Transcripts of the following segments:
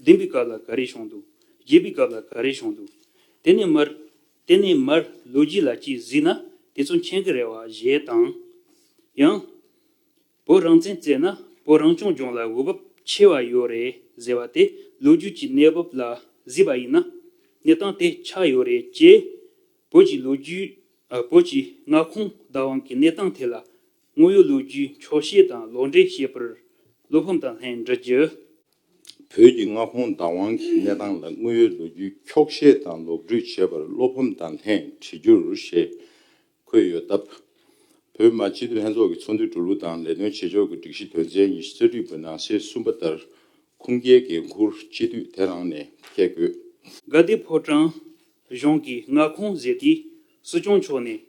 བདུན་པའི་སྐབས་ལ་ག་རེ་བྱུང་འདུག་བརྒྱད་པའི་སྐབས་ལ་ག་རེ་བྱུང་འདུག་དེ་ནས་མར། དེ་ནས་མར་ལོ་རྒྱུས་ལ་གཅིག་གཟིགས་ན་དེ་ཚོ་མཁྱེན་གི་རེད་བ་ཞེས་དང། ཡང། བོད་རང་བཙན་བརྩད་ན་བོད་རང་སྐྱོང་ལྗོངས་ལ་འོས་བབ་ཆེ་བ་ཡོད་རེད་ཟེར་བ་དེ་ལོ་རྒྱུས་ཀྱི་གནས་བབ་ལ་གཟིགས་པ་ཡིན་ན། གནས་སྟངས་དེ་ཆགས་ཡོད་རེད་ཅེས། བོད་ཀྱི་ལོ་རྒྱུས། བོད་ཀྱི་མངའ་ཁོངས་བདག་དབང་གི་གནས་སྟངས་ཐད་ལ། དངོས་ཡོད་ལོ་རྒྱུས་འཁྱོག་བཤད་དང་ལོག་འགྲེལ་བཤད་པར་བློ་ཕམ་དང་ལྷན་འདྲི་རྒྱུ། བོད་ཀྱི་མངའ་ཁོངས་བདག་དབང་གི་གནས་སྟངས་ལ་དངོས་ཡོད་ལོ་རྒྱུས་འཁྱོག་བཤད་དང་ལོག་སྒྲིག་བྱེད་པར་བློ་ཕམ་དང་ལྷན་བྲིས་རྒྱུར་ཞེས་འཁོད་ཡོད་སྟབས། བོད་མ་སྤྱི་འཐུས་ལྷན་ཚོགས་ཀྱི་ཚོགས་འདུའི་འགྲོ་ལུགས་དང་ལས་དོན་བྱེད་ཕྱོགས་ཀྱི་སྒྲིག་གཞི་དོན་ཚན་ཉི་ཤུ་རྩ་དྲུག་པའི་ནང་གསེས་གསུམ་པ་ལྟར་ཁུངས་སྐྱེལ་འགན་འཁུར་སྤྱི་འཐུས་དེ་རང་ནས་འཁྱེར་དགོས། དགའ་བདེ་ཕོ་བྲང་གཞུང་གི་མངའ་ཁོངས་གཟེར་ཏེ་སྲིད་སྐྱོང་མཆོག་ནས་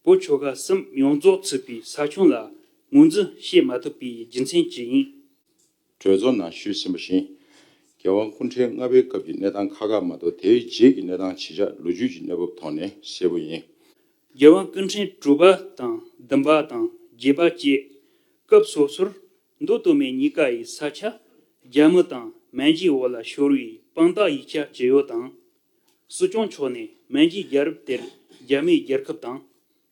བོད་ཆོལ་ཁ་གསུམ་ཡོངས་རྫོགས་ཚུད་པའི་ས་ཁྱོན་ལ་ངོས་འཛིན་བྱེད་མ་ཐུབ་པའི་རྒྱུ་མཚན་ཅི་ཡིན། གྲོས་ཚོགས་ནང་ཞུས་ཟིན་པ་བཞིན། རྒྱལ་དབང་སྐུ་འཕྲེང་ལྔ་པའི་སྐབས་ཀྱི་གནས་སྟངས་ཁག་ཁག་མ་གཏོགས་དེའི་རྗེས་ཀྱི་གནས་སྟངས་ཇི་ཆགས་ལོ་རྒྱུས་ཀྱི་གནས་བབ་ཐོག་ནས་གསལ་པོ་ཡིན། རྒྱལ་དབང་སྐུ་འཕྲེང་དྲུག་པ་དང་བདུན་པ་དང་བརྒྱད་པ་བཅས་སྐབས་སོ་སོར་མདོ་སྟོད་སྨད་གཉིས་ཀ་ཡི་ས་ཆ་རྒྱ་མི་དང་མན་ཇིའི་འོག་ལ་ཤོར་བའི་དཔང་རྟགས་ཡིག་ཆ་ཇི་ཡོད་དང། སྲིད་སྐྱོང་མཆོག་ནས་མན་ཇིའི་རྒྱལ་རབས་དེར་རྒྱ་མིའི་རྒྱལ་ཁབ་དང།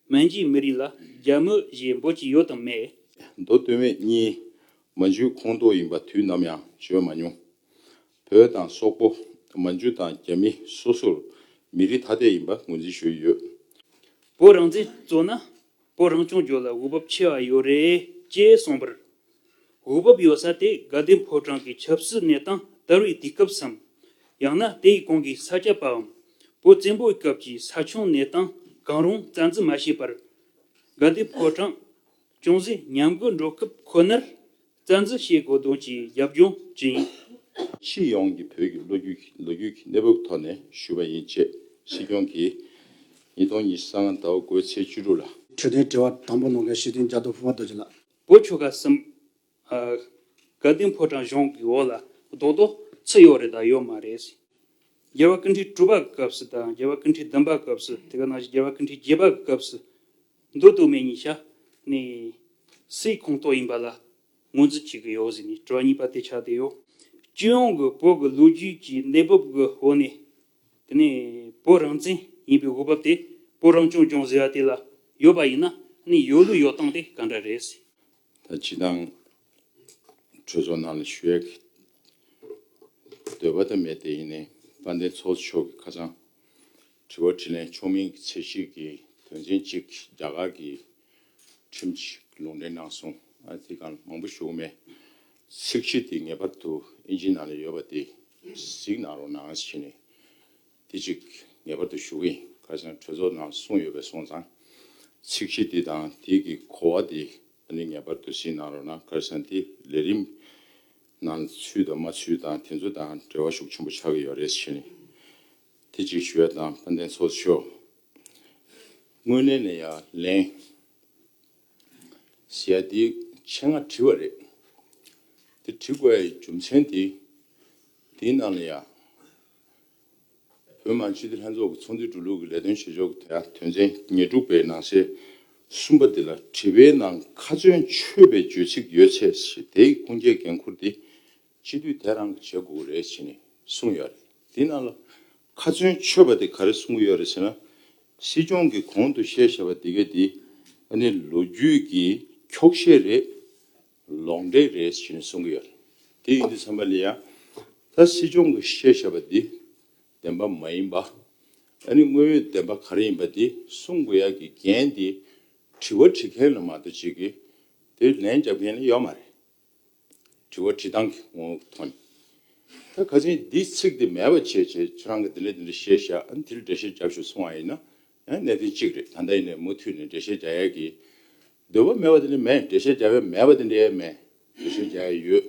སྨན་གྱི་མི་རིགས་ལ་རྒྱ་མི་ཞེས་འབོད་ཀྱི་ཡོད་དམ་མེད། མདོ་སྟོད་སྨད་གཉིས་མ་འཇུ་ཁོངས་གཏོགས་ཡིན་པ་དུས་ནམ་ཡང་བརྗོད་མ་མྱོང། བོད་དང་སོག་པོ་མ་འཇུ་དང་རྒྱ་མི་སོ་སོར་མི་རིགས་ཐ་དད་ཡིན་པ་ངོས་འཛིན་ཞུས་ཡོད། བོད་རང་བཙན་རྩོད་ན་བོད་རང་སྐྱོང་རྒྱུ་ལ་འོས་བབ་ཆེ་བ་ཡོད་རེད་ཅེས་གསུངས་པར་འོས་བབ་ཡོད་ས་དེ་དགའ་ལྡན་ཕོ་བྲང་གི་ཆབ་སྲིད་གནས་སྟངས་དར་བའི་དུས་སྐབས་སམ། ཡང་ན་དེའི་གོང་གི་ས་སྐྱ་པའམ་བོད་བཙན་པོའི་སྐབས་ཀྱི་ས་ཆུང་གནས་སྟངས་གང་རུང་རྩ་འཛིན་མ་བྱས་པར། དགའ་ལྡན་ཕོ་བྲང་ཅུང་ཟད་ཉམས་རྒུད་འགྲོ་སྐབས་ཁོ་ནར་རྩ་འཛིན་བྱེད་དགོས་དོན་གྱི་རྒྱབ་ལྗོངས་ཇི་ཡིན། ཕྱི་ཡོངས་ཀྱི་བོད་ཀྱི་ལོ་རྒྱུས་ལོ་རྒྱུས་ཀྱི་གནས་བབ་ཐོག་ནས་ཞུས་པ་ཡིན་ཅེས་སྲིད་སྐྱོང་གིས་ཉིས་སྟོང་ཉི་ཤུ་ལྔ་ཟླ་བ་དགུ་བའི་ཚེས་བཅུ་དྲུག་ལ། འཕྲོས་དོན་དྲི་བ་དང་པོ་གནང་མཁན་ཞི་མཐུན་རྒྱ་མཚོ་ཕུ་བ་རྡོ་རྗེ་ལགས། སྒོ་ཆོ་ག་གསུམ། དགའ་ལྡན་ཕོ་བྲང་གཞུང་གི་འོག་ལ་རྡོག་རྡོག་ཚུད་ཡོད་རེད་དང་ཡོད་མ་རེད། རྒྱལ་བ་ཀུན་འཕྲི་དྲུག་པ་གི་སྐབས་སུ་དང་རྒྱལ་བ་ཀུན་འཕྲི་བདུན་པ་གི་སྐབས་སུ་དེ་ག་ནང་བཞིན་རྒྱལ་བ་ཀུན་འཕྲི་བརྒྱད་པ་གི་སྐབས་སུ་འདུག་འདུག་མེད་གཉིས་ཆ་ནས་སའི་ཁོངས་གཏོགས་ཡིན་པ་ལ་ངོས་འཛིན་བྱེད་ཀྱི་ཡོད་ཟེར་ནས་དྲི་བ་གཉིས་པ་དེ་ཆགས་བསྡད་ཡོད། སྤྱི་ཡོངས་ཀྱི་བོད་ཀྱི་ལོ་རྒྱུས་ཀྱི་གནས་བབ་ཀྱི་འོག་ནས་དེ་ནས་བོད་རང་བཙན་ཡིན་པའི་འོས་བབ་དེ་བོད་རང་སྐྱོང་ལྗོངས་ཟེར་བ་དེ་ལ་ཡོད་པ་ཡིན་ན་ནི་ཡོད་ལུགས་ཡོད་སྟངས་དེ་ག་འདྲ་རེད། ད་ཇི་ལྟར་གྲོས་ཚོགས་ནང་ལ་ཞུ་ཡག་འདོད་པ་དང་མེད་དེ་ཡིན་ནའི་དཔལ་ལྡན་ཚོགས་གཙོ་མཆོག་གིས་ཁ་ཚང་དྲི་བ་དྲི་ལན་ཆོག་མིན་གྱི་ཚད་གཞི་གི་དོན་ཚན་གཅིག་རྒྱ་གར་གྱི་ཁྲིམས་ཀྱི་ལུང་འདྲེན་གནང་སོང་ཨ་དེ་གང་མང་པོ་ཞུ་གི་མེད། ཚིག་གཅིག་དེ་ངེས་པར་དུ་ཨིན་ཇིའི་ནང་ལ་ཡོད་པ་དེ་གཟིགས་གནང་རོགས་གནང་བྱས་ནས་དེ་གཅིག་ངེས་པར་དུ་ཞུ་གི་ཡིན་ཁ་སང་གྲོས་ཚོགས་ནང་གསུངས་ཡོད་པའི་སོང་ཙང་ཚིག་གཅིག་དེ་དང་དེ་གི་གོ་བ་དེ་ནི་ངེས་པར་དུ་གཟིགས་གནང་རོགས་གནང་ཁར་སང་དེ་ལས་རིམ་ནང་ལ་ཚུད་དང་མ་ཚུད་དང་དེ་ཚོ་དང་འབྲེལ་བ་ཤུགས་ཆེན་པོ་ཆགས་ཀྱི་ཡོད་རེད་བྱས་ནས་དེ་གཅིག་ཞུ་ཡ་དང་དཔལ་ལྡན་ཚོགས་གཞོགས་དངོས་གནས་ནས་ཡ་ལན། ཞལ་འདི་ཕྱེད་ང་བྲིས་བ་རེད། འདི་བྲི་དགོས་རྒྱུ་མཚན་དེ་འདིའི་ནང་ལ་ཡང། བོད་མང་སྤྱི་འཐུས་ལྷན་ཚོགས་ཀྱི་ཚོགས་འདུའི་འགྲོ་ལུགས་ཀྱི་ལས་དོན་བྱེད་ཕྱོགས་ཀྱི་དོན་ཚན་ཉེར་དྲུག་པའི་ནང་གསེས་གསུམ་པ་འདི་ལ་དྲི་བའི་ནང་ཁ་ཚོན་ཆོད་པའི་རྗོད་ཚིག་ཡོད་ཚེ་དེའི་ཁུངས་སྐྱེལ་འགན་འཁུར་ཏེ། སྤྱི་འཐུས་དེ་རང་གིས་བྱེད་དགོས་ཀྱི་རེད་ཅེས་ནས་གསུངས་ཡོད་རེད། དེ་རྣམས་ལ་ཁ་ཚོན་ཆོད་པ་དེ་ག་རེ་གསུངས་གི་ཡོད་རེད་ཟེར་ན། སྲིད་སྐྱོང་གིས་གོང་དུ་བཤད་བཞག་པ་དེ་གའི་དེ་ནི་ལོ་རྒྱུས་ཀྱི་འཁྱོག་བཤད་རེད། ལོག་འགྲེལ་རེད་ཅེས་ནས་གསུངས་གི་ཡོད་རེད། དེ་ཡིན་དུས་ཚང་མ་ལས་ཡང་ད་སྲིད་སྐྱོང་གིས་བཤད་བཞག་པ་དེ་བདེན་པ་མ་ཡིན་པ། ཨ་ནི་དངོས་ཡོད་བདེན་པ་ག་རེ་ཡིན་པ་དེ་གསུངས་དགོས་ཡག་གི་འགན་དེ་དྲི་བ་དྲི་མཁན་ལ་མ་གཏོགས་བྱེད་ཀྱི་དེ་ལན་རྒྱབ་མཁན་ལ་ཡོད་མ་རེད། དྲི་བ་དྲིས་སྟངས་ཀྱི་ངོ་བོ་མཐོང་ཡོད། ད་ག་ཚེ་འདིས་ཚིག་དེ་མེད་པ་བྱས་བྱས་ཁྱེད་རང་གི་དེ་འདྲ་དེ་འདྲ་བཤད་བཤད་ཨ་ནི་དེ་ལ་འགྲེལ་བཤད་རྒྱབ་ཞུ་སོང་བ་ཡིན་ན་ཡང་གནད་དོན་གཅིག་རེད་ད་ལྟ་ཡིན་ནས་མུ་མཐུད་ནས་འགྲེལ་བཤད་རྒྱག་ཡས་ཀྱི་འདོད་པ་མེད་པ་དེ་འདྲ་མེད་འགྲེལ་བཤད་རྒྱབ་ཡས་མེད་པ་དེ་འདྲ་ཡས་མེད་འགྲེལ་བཤད་རྒྱག་ཡས་ཡོད་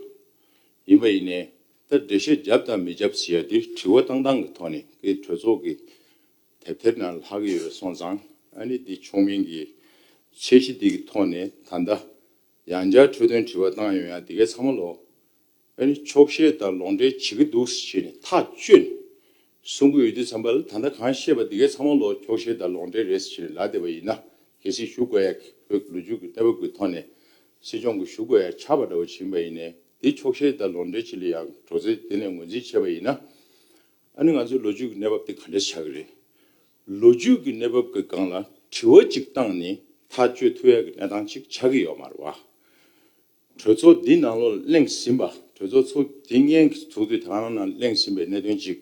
ཡིན་པ་ཡིན་ནས་ད་འགྲེལ་བཤད་རྒྱབ་དང་མི་རྒྱབ་ཟེར་ཡས་དེ་དྲི་བ་བཏང་སྟངས་ཀྱི་ཐོག་ནས་ཀྱི་གྲོས་ཚོགས་ཀྱི་དེབ་ཐེར་ནང་ལྷག་གི་ཡོད་སོང་ཙང་ཨ་ནི་འདི་ཆོག་མིན་གྱི་ཚད་གཞི་དེ་གི་ཐོག་ནས་ད་ལྟ་ཡང་བསྐྱར་འཕྲོས་དོན་དྲི་བ་བཏང་ཡོང་ཡང་དེ་གའི་ཚང་མ་ལོག་ཨེ་རེད་ཆོག་ཤེས་དང་ལོག་འགྲེལ་བྱེད་ཀྱི་འདུག་ཟེར་ནས་ཐག་གཅོད་ནས་གསུང་གི་འོས་དུས་ཚང་པ་ལ་ད་ལྟ་གང་བཤད་པ་དེ་གའི་ཚང་མ་ལོག་ཆོག་ཤེས་དང་ལོག་འགྲེལ་རེད་ཟེར་ནས་ལག་བདེ་བ་ཡིན་ན་གལ་སྲིད་ཞུ་དགོས་ཡ་གི་བོད་ཀྱི་ལོ་རྒྱུས་ཀྱི་ལྟ་བ་ཀྱི་ཐོག་ནས་སྲིད་སྐྱོང་གི་ཞུ་དགོས་ཡ་ཆགས་པ་འདྲ་བོ་བྱིན་པ་ཡིན་ནས་དེ་ཆོག་ཤེས་དང་ལོག་འགྲེལ་བྱེད་ལ་ཡང་གྲོགས་ཚེ་དེ་ནས་ངོས་འཛིན་བྱས་པ་ཡིན་ན་ཨ་ནི་ང་ཚོའི་ལོ་རྒྱུས་ཀྱི་གནས་བབ་དེ་ག་འདྲ་ཆགས་ཀྱི་རེད་ལོ་རྒྱུས་ཀྱི་གནས་བབ་ཀྱི་སྒང་ལ་དྲི་བ་གཅིག་བཏང་ནས་ཐག་གཅོད་ཐུབ་ཡག་གི་གནས་སྟངས་གཅིག་ཆགས་ཀྱི་ཡོད་མ་རེད་བ། གྲོས་ཚོགས་འདི་ནང་ལོག་གླེང་ཟིན་པ་གྲོས་ཚོགས་ཚོགས་དེ་སྙན་གྱི་ཚོགས་དུས་དང་རང་ནང་གླེང་ཟིན་པའི་གནད་དོན་གཅིག་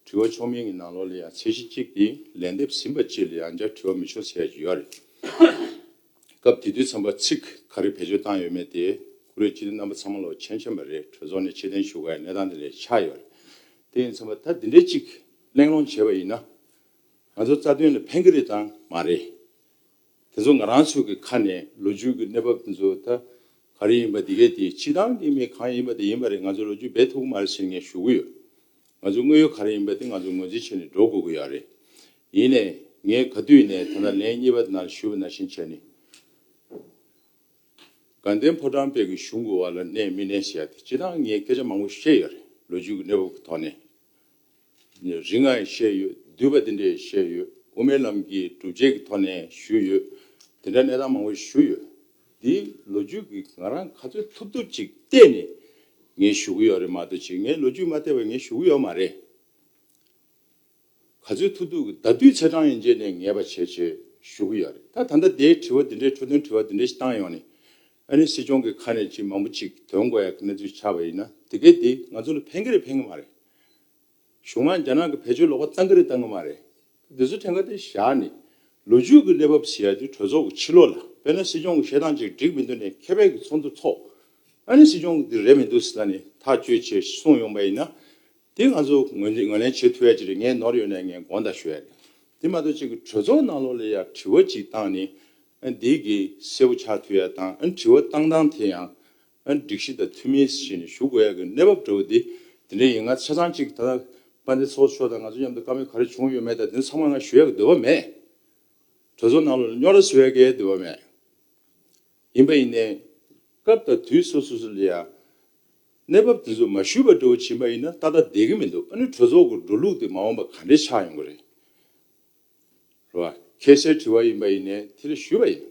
དྲི་བ་ཆོག་མིན་གྱི་ནང་ལོག་ལ་ཡང་ཚད་གཞི་གཅིག་དེ་ལན་འདེབས་ཟིན་པ་བཅས་ལ་ཡང་བསྐྱར་དྲི་བ་མི་ཆོག་ཟེར་ཡག་གི་ཡོད་རེད། སྐབས་དེ་དུས་ཚན་པ་ཚིག་ག་རེ་བེད་སྤྱོད་བཏང་ཡོད་མེད་དེ་ཀུ་རེ་ཅི་ཏེ་རྣམ་པ་ཚང་མ་ལོག་མཆན་མཆན་པ་རེད་གྲོས་ཚོགས་ནས་ཕྱི་གཏན་ཞུ་དཀའ་ཡི་གནས་སྟངས་དེ་ལས་ཆགས་ཡོད་རེད། དེ་ཡིན་ཚན་པ་ད་འདི་འདྲའི་གཅིག་གླེང་སློང་བྱས་པ་ཡིན་ན། ང་ཚོ་རྩ་དོན་ལ་ཕན་གྱི་རེད་དང་མ་རེད། དེ་ཚོ་ང་རང་ཚོའི་གི་ཁ་ནས་ལོ་རྒྱུས་ཀྱི་གནས་བབ་དེ་ཚོ་ད་ག་རེ་ཡིན་པ་དེ་གས་དེ་ཕྱི་ཐང་གི་མི་གང་ཡིན་པ་དེ་ཡིན་པ་རེད་ང་ཚོ་ལོ་རྒྱུས་སྦས་ཐུབ་གི་མ་རེད་ཟེར་ངས་ཞུ་གི་ཡོད། ང་ཚོའི་དངོས་ཡོད་ག་རེ་ཡིན་པ་དེ་ང་ཚོ་ངོས་འཛིན་བྱས་ནས་འགྲོ་དགོས་གི་ཡོད་རེད། ཡིན་ནས་ངས་ག་དུས་ནས་ཐ་ན་ལན་གཉིས་པ་ནང་ལ་ཞུས་པ་ནང་བཞིན་བྱས་ནས། དགའ་ལྡན་ཕོ་བྲང་དཔལ་གྱི་གཞུང་གི་བར་ལ་གནས་མི་གནས་ཞེས་ཡ་དེ་ཕྱི་ཐང་ངས་སྐད་ཆ་མང་པོ་བཤད་ཡོད་རེད་ལོ་རྒྱུས་ཀྱི་གནས་བབ་ཀྱི་ཐོག་ནས། རིགས་ལྔ་ཡང་བཤད་ཡོད། བསྡུས་པ་འདི་འདྲ་ཡང་བཤད་ཡོད། དབུ་མའི་ལམ་གྱི་སྒྲུབ་བྱེད་ཀྱི་ཐོག་ནས་ཞུས་ཡོད། དེ་འདྲ་གནས་སྟངས་མང་བོ་ཞུས་ཡོད། འདིའི་ལོ་རྒྱུས་ཀྱི་ང་རང་ག་ཚོད་ཐུབ་ཐུབ་ཅིག་བལྟས་ནས་ངས་ཞུ་གི་ཡོད་རེད་མ་གཏོགས་ཆེས་ངས་ལོ་རྒྱུས་མ་བལྟས་པར་ངས་ཞུ་གི་ཡོད་མ་རེད། ག་ཚོད་ཐུབ་ཐུབ་ཀྱི་ད་དུས་ཚེས་གྲངས་ཡིན་རྗེས་ནས་ངས་པ་བྱས་བྱས་ཞུ་གི་ཡོད་རེད། ད་ད་ལྟ་དེའི་དྲི་བ་འདི་འདྲའི་འཕྲོ་མཐུན་དྲི་བ་འདི་འདྲ་ཞིག་བཏང་ཡོང་ནས་ཨ་རིའི་སྲིད་སྐྱོང་གི་ཁ་ནས་ཅི་མང་པོ་ཅིག་དོན་དགོས་ཡག་གི་གནས་ཚུལ་ཆགས་པ་ཡིན་ན་དེ་གའི་དེ་ང་ཚོ་ལ་ཕན་གི་རེད་ཕན་གི་མ་རེད། གཞུང་ནང་རྒྱ་ནག་གི་བེད་སྤྱོད་ལོག་པ་བཏང་གི་རེད་བཏང་གི་མ་རེད། དེ་ཚོ་ཕྲན་ག་དེ་བཞག་ནས་ལོ་རྒྱུས་གི་གནས་བབས་ཟེར་ཡག་དེ་གྲོས་ཚོགས་གི་ཕྱི་ལོག་ལ་དཔེར་ན་སྲིད་སྐྱོང་གི་བཤད་སྟངས་ཅིག་འགྲིག་མི་འདུག་ནས་མཁས་པའི་གི་ཚོགས་འདུ་ཚོགས། ཨ་རིའི་སྲིད་སྐྱོང་གི་དེ་རེད་མི་འདུག་ཟེར་ན་ནས་ཐག་གཅོད་ཆེད་གསུངས་ཡོང་པ་ཡིན་ན་དེ་ང་ཚོ་ངོས་ལེན་བྱེད་ཐུབ་ཡག་ཅིག་རེད་ངས་ནོར་ཡོད་ན་ངས་དགོངས་དག་ཞུ་ཡག་རེད། དེ་མ་གཏོགས་ཅིག་གི་གྲོས་ཚོགས་ནང་ལོག་ལ་ཡག་དྲི་བ་ཅིག་བཏང་ནས་བདེ་དགེ་སེར་བོ་ཕྱག་མཐུ་ཡག་དང་དྲི་བ་བཏང་སྟངས་དེ་ཡང་སྒྲིག་གཞི་དང་མཐུན་མིན་ཞེས་ནས་ཞུ་དགོས་ཡག་གི་གནས་བབ་འདྲ་བོ་དེ་དེ་འདྲ་ཡིན་ང་ཚོ་ཆ་ཚང་གཅིག་ད་དཔལ་ལྡན་ཚོགས་གཙོ་མཆོག་དང་ང་ཚོ་མཉམ་དུ་དཀའ་མོད་ག་རེ་བྱུང་ཡོད་མེད་དང་དེ་ཚང་མ་ང་ཞུ་ཡག་གི་འདོད་པ་མེད། གྲོས་ཚོགས་ནང་ལ་རྙོག་དྲ་བཟོ་ཡག་གི་འདོད་པ་མེད། ཡིན་པ་ཡིན་ནའི། སྐབས་དང་དུས་སོ་སོ་སོ་ལ་ཡང་གནས་བབ་དེ་ཚོ་མ་ཞུས་པ་འདྲ་བོ་བྱིན་པ་ཡིན་ན་ཏག་ཏག་བསྡད་གི་མི་འདུག་ཨ་ནུ་གྲོས་ཚོགས་ཀྱི་འགྲོ་ལུགས་དེ་མ་འོངས་པ་ག་འདྲའི་ཆགས་ཡོང་གི་རེད། རེད་བ། ཁྱེད་སེར་བྲི་བ་ཡིན་པ་ཡིན་ནས་དེ་ལ་ཞུས་པ་ཡིན།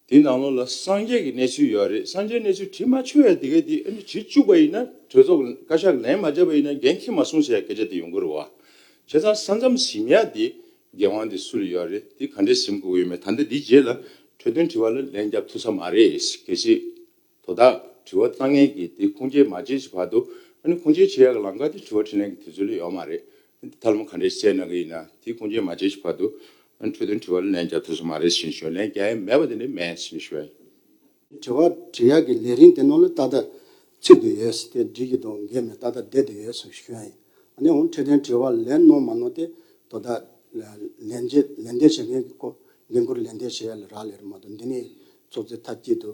དེ་ནང་ལོགས་ལ་སངས་རྒྱས་ཀྱི་གནས་ཚུལ་ཡོད་རེད་སངས་རྒྱས་གནས་ཚུལ་བྲི་མ་ཆོད་ཡ་དེ་ག་དེ་ཨ་ནི་བྲི་བཅུག་པ་ཡིན་ན་གྲོས་ཚོགས་ཀྱི་བཀའ་ཤག་ལན་མ་བརྒྱབ་པ་ཡིན་ན་འགན་ཁྱེད་མ་སྲུང་ཟེར་ཡ་སྐད་ཆ་དེ་ཡོང་གི་རེད་བ། ཁྱེད་ཚང་ས་མཚམས་གཟིམ་ཡ་དེ་འགན་དབང་དེ་སུ་ལ་ཡོད་རེད་དེ་ག་འདྲས་གཟིམ་དགོས་ཀྱི་ཡོད་མེད་ད་ལྟ་དེ་རྗེས་ལ་གྲོས་དོན་བྲི་བ་ལ་ལན་བརྒྱབ་ཐུབ་ས་མ་རེད་གལ་སྲིད། དོ་བདག། དྲི་བ་གཙང་ངེས་ཀྱིས་དེ་ཁུངས་སྐྱེལ་མ་བྱེད་ཀྱི་བར་དུ། ཨ་ནི་ཁུངས་སྐྱེལ་བྱེད་ཡག་གི་ལམ་ཁ་དེ་དྲི་བ་དྲིས་ལན་གྱི་དུས་ཚོད་ལས་ཡོལ་མ་རེད། ཨ་ནི་འདི་ཐ་ལམ་ག་འདྲའི་བཤད་གནང་གི་ཡིན་ན་དེ་ཁུངས་སྐྱེལ་མ་བྱེད་ཀྱི་བར་དུ། ཨ་ནི་འཕྲོས་དོན་དྲི་བ་ལན་རྒྱག་ཐུབ་ས་མ་རེད་ཞེས་ཞོར་ལན་རྒྱག་ཡས་མེད་པ་དེ་འདྲའི་མེད་ཞེས་ཞུ་བ་ཡིན། དྲི་བ་དྲིས་ཡག་གི་ལས་རིན་དེ་ནོར་ལོ་ཏག་ཏག་ཚིག་ཏུ་ཡོད་ས་དེ་འབྲི་གི་འདུག་འགས་མེད་ཏག་ཏག་བསྡད་དུ་ཡོད་ཞེས་ཞུ་བ་ཡིན། ཨ་ནི་འོང་འཕྲོས་དོན་དྲི་བ་ལན་ནོར་མ་ནོར་དེ་དོ་བདག། ལན་འདེབས་བྱེད་མཁན་གྱི་སྐོར་འགན་ཁུར་ལན་འདེབས་བྱེད་ཡག་ལ་རག་ལས་རེད་མ་གཏོགས་འདི་ནས་ཚོགས་རྫི་ཐ་སྐྱིད་དུ་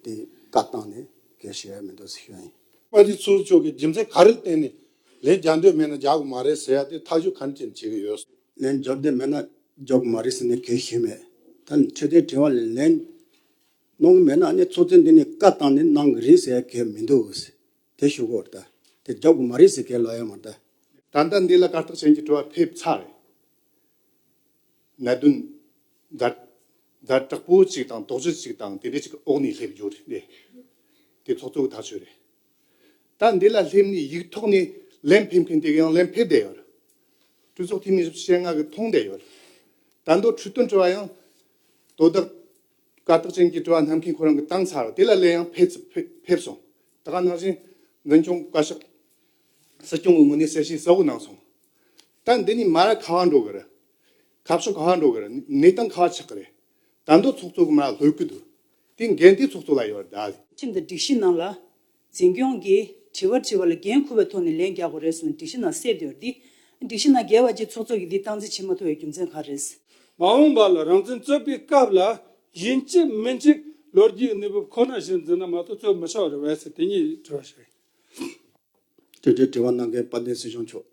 དེའི་བཀའ་བཏང་ནས་གལ་ཞེ་ཡ་མི་འདུག་ཟེར་ཤོག་ཡིན། ཨ་རིའི་ཚོགས་གཙོ་གིས་རྒྱུ་མཚན་ག་རེ་བསྟན་ནས་ལན་རྒྱག་འདོད་མེད་ན་རྒྱག་གི་མ་རེད་ཟེར་ཡ་དེ་ཐག་གཅོད་ག་ཅིག་བྱེད་ཀྱི་ཡོད། ལན་རྒྱོག་འདོད་མེད་ན་རྒྱོག་གི་མ་རེད་ཟེར་ནས་གལ་ཞེ་མེད། ད་ནི་ཆོས་དད་དྲི་བ་ལ་ལན་གནང་གི་མེད་ན་ནི་ཚོགས་གཙོས་འདི་ནས་བཀའ་བཏང་ནས་གནང་གི་རེད་ཟེར་ཡ་གལ་མི་འདུག་ཟེར་དེ་ཞུ་གོ་རེད། དེ་རྒྱོག་གི་མ་རེད་ཟེར་གལ་ལོག་ཡ་མ་རེད། ད་ལྟ་འདི་ལ་བཀའ་བཏགས་ཅན་གྱི་དྲི་བ་ཕེབས་ཚར་རེད། ན་བདུན། ཟླ། ཟླ་དྲག་པོ་གཅིག་དང་དོགས་གཅོད་གཅིག་དང་དེ་འདྲ་གཅིག་འོག་ནས་སླེབས་རྒྱུ་རེད། དེ་ཐོག་ཐུག་ཐག་ཆོད་རེད། ད་འདི་ལ་སླེབས་ནས་ཡིག་ཐོག་ནས་ལན་ཕེབས་མཁན་དེ་ཡང་ལན་ཕེབས་བསྡད་ཡོད། གྲོས་ཚོགས་འཐུས་མིས་བཤད་ངག་གིས་མཐོང་བསྡད་ཡོད། ད་མདོར་འཕྲོས་དོན་དྲི་བ་ཡང། དོ་བདག། དཀའ་རྟགས་ཅན་གྱི་དྲི་བ་གནང་མཁན་ཁོ་རང་གི་བཏང་ཚར་དེ་ལ་ལན་ཡང་ཕེབས་སོང། ད་ག་ནང་བཞིན་འཛིན་སྐྱོང་བཀའ་ཤག། སྲིད་སྐྱོང་གི་ངོས་ནས་གསལ་བཤད་གསལ་བོ་གནང་སོང། ད་འདི་ནས་མར་ཁ་བ་འགྲོ་གི་རེད། ཁ་བྱང་ཁ་བ་འགྲོ་གི་རེད། གནས་སྟངས་ཁ་བ་ཆགས་ཀྱི་རེད། དར་མདོ་ཚོགས་གཙོ་གི་མར་ལྷོད་གི་འདུག་དེ་འགན་དེ་ཚོགས་གཙོ་ལ་ཡོད་རེད། ཁྲིམས་དང་སྒྲིག་གཞི་ནང་ལ། འཛིན་སྐྱོང་གིས་དྲི་བ་དྲིས་པ་ལ་འགན་འཁུར་བའི་ཐོག་ནས་ལན་རྒྱག་དགོས་རེད་གསུངས་སྒྲིག་གཞི་ནང་གསལ་འདུག་འདི་སྒྲིག་གཞི་ནང་འགལ་བ་གྱིས་ཚོགས་གཙོ་གིས་འདི་སྟངས་འཛིན་བྱེད་མ་ཐུབ་པའི་རྒྱུ་མཚན་ག་རེད། མ་འོངས་པ་ལ་རང་བཙན་རྩོད་པའི་སྐབས་ལ་ཡིན་གཅིག་མིན་གཅིག་ལོ་རྒྱུས་གནས་བབ་ཁོ་ན་བཞིན་འཛིན་ན་མ་གཏོགས་རྩོད་མི་ཆོག་རེད་བས་སེ་དེ་གཉིས་དྲི་བ་ཞིག་རེད། དེ་འབྲེལ་དྲི་བ་གནང་མཁན་དཔལ་ལྡན་སྲིད་སྐྱོང་མཆོག།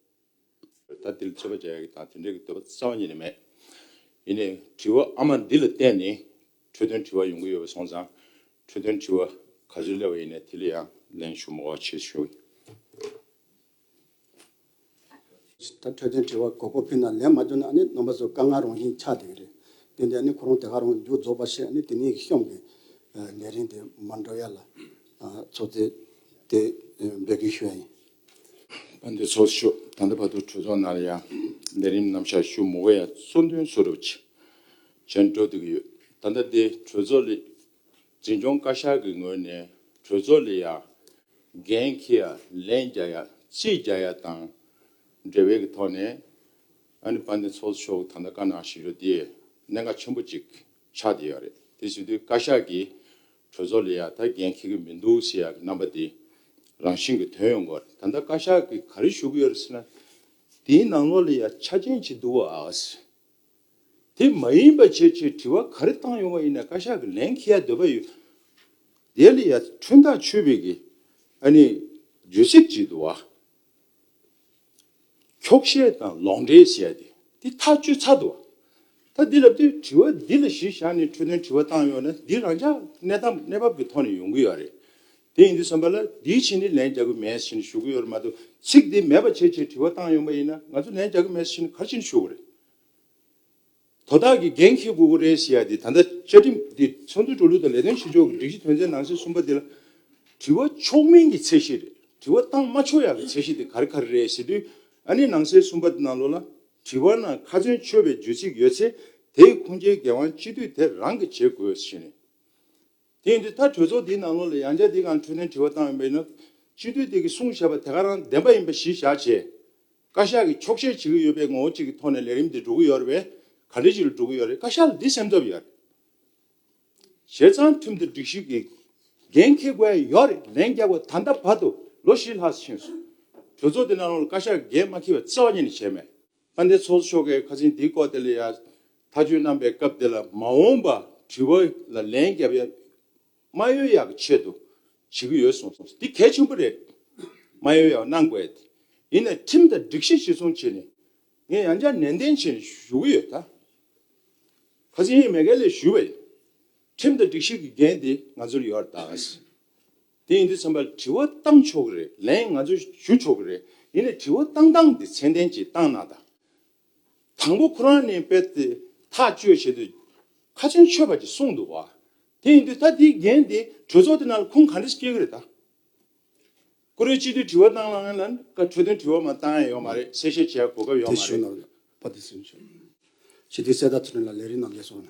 ད་དེ་ལ་དཔྱད་པ་བྱ་ཡག་དང་དེ་འབྲེལ་གྱི་འདོད་པ་རྩ་བ་ཉིད་ནས་མེད། ཡིན་ནའི་དྲི་བ་ཨ་མ་འདི་ལ་བརྟེན་ནས་འཕྲོས་དོན་དྲི་བ་ཡོང་གི་ཡོད་པ་སོང་ཙང་འཕྲོས་དོན་དྲི་བ་ག་ཚོད་སླེབས་པ་ཡིན་ནའི་དེ་ལ་ཡང་ལན་ཞུ་མོ་བ་བྱེད་ཞོར། ད་འཕྲོད་བསྟེན་དྲི་བ་གོ་བགོ་ཕུལ་ན་ལན་མ་འདོན་ན་ནི་ནོམ་པ་ཚོ་དཀའ་ངལ་རང་བཞིན་ཆགས་བསྡད་ཀྱི་རེད། དེ་འདྲས་ནི་ཁོ་རང་དེ་ག་རང་མཇུག་རྫོགས་པ་ཤེས་ནི་དེ་ནས་གཤོམ་གི། ལས་རིན་དེ་མ་འགྲོ་ཡ་ལ། ཚོགས་རྫས་དེ་འབོད་གི་ཤོད་ཡིན། བ་འདི་ཚོགས་ཤོག་ད་ལྟ་བར་དུ་གྲོས་ཚོགས་ནང་ལ་ཡང་ལས་རིམ་ནམ་ཞར་ཞུ་མུ་ག་ཡ་གཙོ་འདོན་སུ་རུབ་བྱས་འགྲོ་བསྡད་ཀྱི་ཡོད། ད་ལྟ་འདི་གྲོས་ཚོགས་ལས། འཛིན་སྐྱོང་བཀའ་ཤག་གི་ངོས་ནས་གྲོས་ཚོགས་ལས་ཡ་རྒན་ཁི་ཡ་ལན་རྒྱ་ཡ་ཅི་རྒྱ་ཡ་དང་འབྲེལ་བའི་གི་ཐོག་ནས་ཨ་ནི་པ་ནི་ཚོགས་གཙོ་མཆོག་ད་ལྟ་བཀའ་གནང་བཞིན་ཡོད་དེ་གནད་འགག་ཆེན་པོ་ཅིག་ཆགས་བསྡད་ཡོད་རེད་དེ་བཞིན་དུ་བཀའ་ཤག་གིས་གྲོས་ཚོགས་ལས་ཡ་ད་རྒན་ཁི་གི་མི་འདུག་ཟེར་ཡ་གི་རྣམ་པ་དེ་རང་བཞིན་གི་དོན་ཡོད་འགོར་ད་ལྟ་བཀའ་ཤག་གིས་ག་རེ་ཞུ་གི་ཡོད་རེད་ཟེར་ན་དེའི་ནང་ལོགས་ལས་ཡ་ཆ་ཅན་ཅིག་འདུག་བ་ཨ་ཨ་ཟེར། དེ་མ་ཡིན་པ་བྱེད་ཅེས་དྲི་བ་ག་རེ་བཏང་ཡོང་བ་ཡིན་ན་བཀའ་ཤག་གི་ལན་ཁི་ཡ་འདོད་པ་ཡོད། དེ་ལ་ཡ་ཁྲུན་ཐག་ཆོད་པའི་གི་ཨ་ནི་བརྗོད་ཚིག་ཅིག་འདུག་བ། འཁྱོག་བཤད་དང་ལོག་འགྲེལ་བཤད་དེ་དེ་ཐག་གཅོད་ཚར་འདུག་བ། ད་འདི་ལབ་དུས་དྲི་བ་འདི་ལ་གཞི་བཞག་ནས་འཕྲོས་དོན་དྲི་བ་བཏང་ཡོང་ན་འདི་རང་ཅག་གནས་སྟངས་གནས་བབ་ཀྱི་ཐོག་ནས་ཡོང་གི་ཡོད་རེད། དེ་ཡིན་དུས་བསམ་པ་ལ་འདིའི་ཕྱི་ནས་ལན་རྒྱག་གི་མེད་ཟེར་ནས་ཞུ་གི་ཡོད་རེད་མ་གཏོགས་ཚིག་དེ་མེད་པ་བྱེད་ཅེས་དྲི་བ་བཏང་ཡོང་པ་ཡིན་ན་ང་ཚོ་ལན་རྒྱག་གི་མེད་ཟེར་ནས་ག་ཅིག་ནས་ཞུ་གི་རེད། དོ་བདག་གི་འགན་འཁྱེར་དགོས་ཀྱི་རེད་ཞེས་ཡ་དེ་ད་ལྟ་བཅའ་ཁྲིམས་འདི་ཚོགས་འདུའི་འགྲོ་ལུགས་དང་ལས་དོན་བྱེད་ཕྱོགས་ཀྱི་སྒྲིག་གཞི་དོན་ཚན་ནང་གསེས་གསུམ་པ་འདི་ལ། དྲི་བ་ཆོག་མིན་གྱི་ཚད་གཞི་རེད་དྲི་བ་བཏང་མ་ཆོག་ཡག་གི་ཚད་གཞི་དེ་ག་རེ་ག་རེ་རེད་ཞེས་དུས་ཨ་ནི་ནང་གསེས་གསུམ་པ་ནང་ལོགས་ལ་དྲི་བ་ན་ཁ་ཚོན་ཆོད་པའི་བརྗོད་ཚིག་ཡོད་ཚེ་དེའི་ཁུངས་སྐྱེལ་འགན་དབང་སྤྱི་འཐུས་དེ་རང་གིས་བྱེད་དགོས་ཞེས་ནས། དེ་ཡིན་དུས་ད་གྲོས་ཚོགས་འདིའི་ནང་ལོགས་ལ་ཡང་བསྐྱར་འདི་གང་འཕྲོས་དོན་དྲི་བ་བཏང་ཡོད་པ་ཡིན་ན། སྤྱི་འཐུས་དེ་གིས་གསུངས་བཞག་པ་དེ་ག་རང་བདེན་པ་ཡིན་པ་གཞི་བཞག་བྱས། བཀའ་ཤག་གིས་འཁྱོག་བཤད་བྱེད་ཀྱི་ཡོད་པའི་ངོ་བོ་གཅིག་གི་ཐོག་ནས་ལས་རིམ་དེ་འགྲོ་གི་ཡོད་རེད་པས་ག་འདྲའི་ཞིག་ལ་འགྲོ་གི་ཡོད་རེད་བཀའ་ཤག་ལ་འདི་སེམས་ཐབས་ཡོད་རེད། བྱས་ཙང་ཁྲིམས་དང་སྒྲིག་གཞི་གི་འགན་འཁྱེར་དགོས་ཡ་ཡོད་རེད་ལན་རྒྱག་པ་ད་ལྟ་བར་དུ་ལོ་བཞི་ལྷག་ཕྱིན་སོང། གྲོས་ཚོགས་འདི་ནང་ལོགས་ལ་བཀའ་ཤག་གིས་འགན་མ་འཁྱེར་བའི་རྩ་བ་ཉིད་ནས་བྱས་མེད། ཨ་ནེ་ཚོགས་མཆོག་གིས་ཁ་ཆེན་འདིའི་སྐོར་དེ་ལ་ཡང་ཐག་གཅོད་གནང་པའི་སྐབས་དེ་ལ་མ་འོངས་པར་དྲི་བ་ལ་ལན་བརྒྱབ་ཡ་མ་ཡོད་ཡག་གི་ཆེད་དུ་བྱེད་ཀྱི་ཡོད་གསུངས། འདི་གལ་ཆེན་པོ་རེད། མ་ཡོད་ཡག་གནང་དགོས། ཡིན་ནས་ཁྲིམས་དང་སྒྲིག་གཞི་གཞིར་བཟུང་བྱས་ནས་ངས་ཡང་བསྐྱར་ནན་ཏན་བྱས་ནས་ཞུ་གི་ཡོད། ཁ་ཆེན་ཡིན་མེད་ག་ལེར་ཞུས་པ་ཡིན། ཁྲིམས་དང་སྒྲིག་གཞི་གི་འགན་དེ་ང་ཚོར་ཡོད་རེད། དེ་ཡིན་དུས་ཚན་པ་དྲི་བ་བཏང་ཆོག་གི་རེད་ལན་ང་ཚོས་ཞུ་ཆོག་གི་རེད་ཡིན་ནའི་དྲི་བ་བཏང་སྟངས་དེ་ཚད་ལྡན་གྱིས་བཏང་ན་ད། དང་པོ་ཁོ་རང་ནས་དཔེར་དེ་ཐག་གཅོད་བྱེད་དུས་ཁ་ཆེམས་ཆོད་པ་གྱིས་གསུངས་འདུག་བ། དེ་ཡིན་དུས་ད་དེའི་འགན་དེ་གྲོས་ཚོགས་དེ་ནང་ལ་ཁུངས་ག་འདྲ་ཞིག་སྐྱེལ་གི་རེད་ད། ཀུ་རེ་སྤྱི་འཐུས་དྲི་བ་བཏང་ལ་ངན་ལན་བཀའ་འཕྲོད་དོན་དྲི་བ་མ་བཏང་ཡ་ཡོད་མ་རེད་གསལ་བཤད་བྱེད་ཡ་གོ་སྐབས་ཡོད་མ་རེད། དེ་ཞུ་ནོར་བ་དེ་སུས་ཞུ། སྤྱི་འཐུས་གསལ་བརྡ་ཐོན་ནས་ལ་ལས་རིགས་རྣམས་ལས་སོང་ན།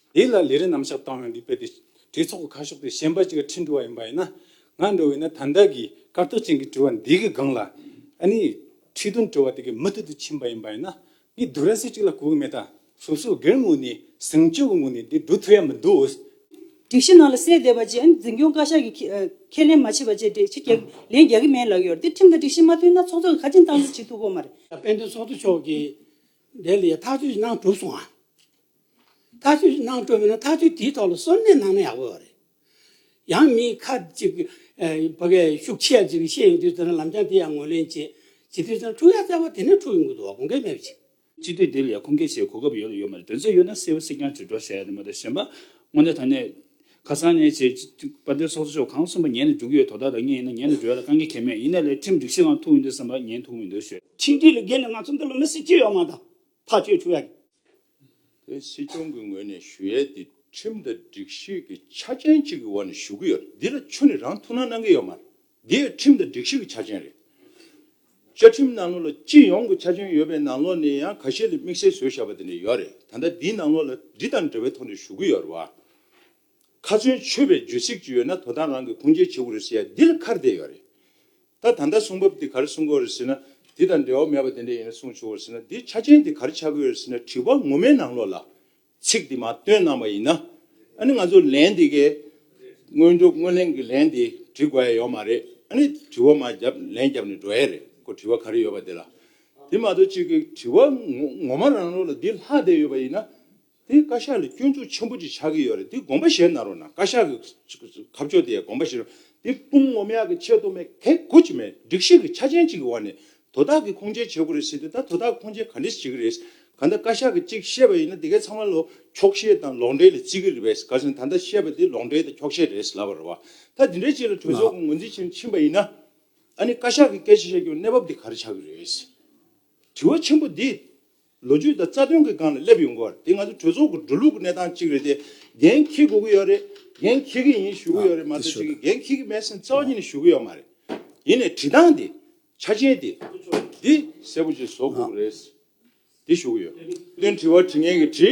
དེ་ལ་ལས་རིན་ནམ་ཞབས་བཏང་བའི་ལུས་པད་དེ་གྲོས་ཚོགས་ཀྱི་ཁ་ཕྱོགས་དེ་ཞེན་པ་གཅིག་གི་ཁྲིད་འགྲོ་བ་ཡིན་པ་ཡིན་ན། ང་འགྲོ་བས་ན་ད་ལྟ་གི་སྐར་ཚོགས་ཅན་གྱི་དྲི་བ་འདི་གི་སྒང་ལ་ཨ་ནི་ཁྲིད་དོན་དྲི་བ་དེ་གི་མུ་མཐུད་དུ་ཕྱིན་པ་ཡིན་པ་ཡིན་ན། ངས་བསྡུ་ར་སེ་གཅིག་ལ་གོ་གི་མེད་ད། སོ་སོ་སྒེར་ངོས་ནས་ཟིང་བཅོས་ཀྱི་ངོས་ནས་འདི་འགྲོ་ཐུབ་ཡ་མི་འདུག་འོས། སྒྲིག་གཞི་ནང་ལ་གསལ་བསྡད་པ་བཅས་ཨ་ནི་འཛིན་སྐྱོང་བཀའ་ཤག་གིས་ཁས་ལེན་མ་བྱས་པ་བཅས་འགྲེལ་བྱེད་རྒྱག་ལེན་རྒྱག་གི་མེད་ལགས་ཡོད། འདི་ཁྲིམས་དང་སྒྲིག་གཞི་མ་མཐུན་ན་ཚོགས་གཙོ་གིས་ཁ་འཆིང་གཏང་རྩིས་བྱེད་ཐུབ་དགོས་མ་རེད། དཔལ་ལྡན་ཚོགས་གཙོ་མཆོག་གིས་དེ་ལས་ཐག་གཅོད་ཀྱི་གནང་གྲུབ་སོང་ངམ། ཐག་གཅོད་ཀྱི་གནང་གྲུབ་མེད་ན་ཐག་གཅོད་དེའི་ཐོག་ལ་སོར་གནས་གནང་ན་ཡག་པོ་ཡོད་རེད། ཡང་མིའི་ཁ་ཅིག་བོད་པའི་ཤུགས་ཆེ་ཡ་ཅིག་གིས་བཤད་ཡོང་དུས་དེ་ནས་ལམ་སྦྱངས་དེ་ཡང་ངོས་ལེན་བྱེད། བྱེད་དུས་དེ་ནས་འཁྲུག་ཡ་ཚ་བ་དེ་ནས་འཁྲུག་ཡོང་གི་འདུག་བ་དགོངས་འགལ་མེད་པ་ཞིག། སྤྱི་འཐུས་དེ་ལས་ཁུངས་སྐྱེལ་བྱེད་གོ་སྐབས་ཡོད་ལ་ཡོད་མ་རེད་དོན་ཚན་ཡོད་ན་གསལ་བོ་གསལ་རྐྱང་དྲིལ་སྒྲོག་བྱ་ཡ་ནི་མ་རེད་གཞན་པ་དངོས་གནས་ད་ནས་ཁ་སང་ནས་བྱེད་པ་འདི་སོགས་སུ་ཕྱོགས་གང་གསུངས་པ་ཉན་ནས་འགྲུག་གི་ཡོད་དོ་བདག་དང་གཉིས་ཡིན་ན་ཉན་ནས་འགྲོ་ཡ་ལ་གང་གི་ཁྱད་མེད་ཡིན་ན་ལས་ཁྲིམས་སྒྲིག་གཞི་གང་ཐུག་ཡོད་འདུག་བསམ་པ་ཉན་ཐུག་མི་འདུག་ཤོད། ཁྲིམས་སྒྲིག་ལ་རྒལ་ནས་ང་ཚོ་འདི་ལོ་མི་སེར་སྤྱོད་ཡོད་མ་ད་ཐག་སྤྱོད་བཅུག་ཡ་རེད། དེ་སྲིད་སྐྱོང་གི་ངོས་ནས་ཞུ་ཡས་འདི་ཁྲིམས་དང་སྒྲིག་གཞི་གི་ཆ་རྐྱེན་གཅིག་གི་འོག་ནས་ཞུ་གི་ཡོད་རེད་འདི་ལ་ཆུ་ནི་རང་ཐུགས་སྣང་གནང་གི་ཡོད་མ་རེད། འདི་ཁྲིམས་དང་སྒྲིག་གཞི་གི་ཆ་རྐྱེན་རེད། བཅའ་ཁྲིམས་ནང་ལོགས་ལ་སྤྱི་ཡོངས་ཀྱི་ཆ་རྐྱེན་ཡོད་པའི་ནང་ལོགས་ནས་ཡང་ག་ཤེད་ལ་དམིགས་བསལ་བཟོས་བཞག་པ་དེ་འདྲ་ཡོད་རེད་ད་ལྟ་འདིའི་ནང་ལོགས་ལ་འདི་དང་འབྲེལ་བའི་ཐོག་ནས་ཞུ་གི་ཡོད་རེད་བ། ཁ་ཚོན་ཆོད་པའི་བརྗོད་ཚིག་ཅིག་ཡོད་ན་དོ་དམ་རང་གིས་ཁུངས་སྐྱེལ་བྱེད་དགོས་རེད་ཟེར་ཡ་འདི་ལ་ཁར་བསྡད་ཡོད་རེད། ད་ད་ལྟ་གསུང་བབ་འདི་གར་གསུང་དགོས་རེད་ཟེར་ན་འདི་དང་འབྲེལ་བ་མེད་པ་དེ་འདྲ་ཡིན་ན་གསུང་ཆོག་གོ་ཟེར་ན་འདིའི་ཆ་རྐྱེན་འདི་གར་ཆགས་ཀྱི་ཡོད་རེད་ཟེར་ན་དྲི་བ་ངོ་མའི་ནང་ལོགས་ལ་ཚིག་དེ་མ་བཏོན་གནང་བ་ཡིན་ན་ཨ་ནི་ང་ཚོ་ལན་འདི་གའི་དངོས་སྒྲུབ་དངོས་ལེན་གྱི་ལན་དེ་འབྲི་དགོས་ཡ་ཡོད་མ་རེད་ཨ་ནི་དྲི་བ་མ་བརྒྱབ་ལན་བརྒྱབ་ནས་འགྲོ་ཡ་རེད་ཁོ་དྲི་བ་ག་རེ་ཡོད་པ་དེ་ལ་དེ་མ་གཏོགས་གཅིག་གི་དྲི་བ་ངོ་མ་རང་རོགས་ལ་འདི་ལྷག་བསྡད་ཡོད་པ་ཡིན་ན་དེ་བཀའ་ཤག་ལ་སྐྱོན་འཛུགས་ཆེན་པོ་ཅིག་ཆགས་ཀྱི་ཡོད་རེད་དེ་དགོངས་པ་བཞེས་གནང་རོགས་གནང་བཀའ་ཤག་གི་ཁ་ཕྱོགས་དེ་ཡ་དགོངས་པ་བཞེས་རོགས་དེ་དཔུང་ངོམ་ཡག་གི་ཆེད་དུ་མེད་གལ་དགོས་ཅིག་མེད་སྒྲིག་གཞི་གི་ཆ་ཅན་ཅིག་གི་འོག་ནས་དོ་བདག་གིས་ཁུངས་སྐྱེལ་བྱེད་དགོས་རེད་ཟེར་དུས་ད་དོ་བདག་ཁུངས་སྐྱེལ་ག་འདྲས་བྱེད་ཀྱི་རེད། ག་འདྲ་བཀའ་ཤག་གིས་གཅིག་བཤད་པ་ཡིན་ན་དེ་གའི་ཚང་མ་ལོ་འཁྱོག་བཤད་དང་ལོག་འགྲེལ་ལ་བརྩི་གི་རེད་པས་ག་ཚོད་ད་ལྟ་བཤད་པ་དེ་ལོག་འགྲེལ་དང་འཁྱོག་བཤད་རེད་ལབ་པར་རོགས། ད་དེ་འདྲའི་ཆེད་ལ་གྲོས་ཚོགས་ཀྱི་ངོས་འཛིན་བྱེད་ཕྱིན་པ་ཡིན་ན། ཨ་ནི་བཀའ་ཤག་གིས་སྐད་ཆ་བཤད་རྒྱུའི་གནས་བབ་དེ་ག་རེ་ཆགས་ཀྱི་རེད། དྲི་བ་ཆེན་པོ་འདི། ལོ་རྒྱུས་དང་རྩ་དོན་གྱི་སྒང་ལ་སླེབས་ཡོང་གི་བ་རེད་དེ་ང་ཚོའི་གྲོས་ཚོགས་ཀྱི་འགྲོ་ལུགས་ཀྱི་གནས་སྟངས་གཅིག་རེད་དེ་འགན་འཁྱེར་དགོས་ཀྱི་ཡོད་རེད་འགན་འཁྱེར་གྱི་ཡིན་ཞུ་གི་ཡོད་རེད་མ་གཏོགས་ཅིག་གིས་འགན་འཁྱེར་གྱི་མེད་ཟེར་ན་རྩ་བ་ཉིད་ནས་ཞུ་གི་ཡོད་མ་རེད། ཡིན་ནས་བྲིས་སྟངས་དེ་ཆ་ཅན་དེ་འདི་གསལ་པོ་ཅིག་བཟོ་དགོས་ཀྱི་རེད། དེ་ཞུ་གི་ཡོད། བསྟུན་དྲི་བ་དྲི་ངན་གྱི་དྲི།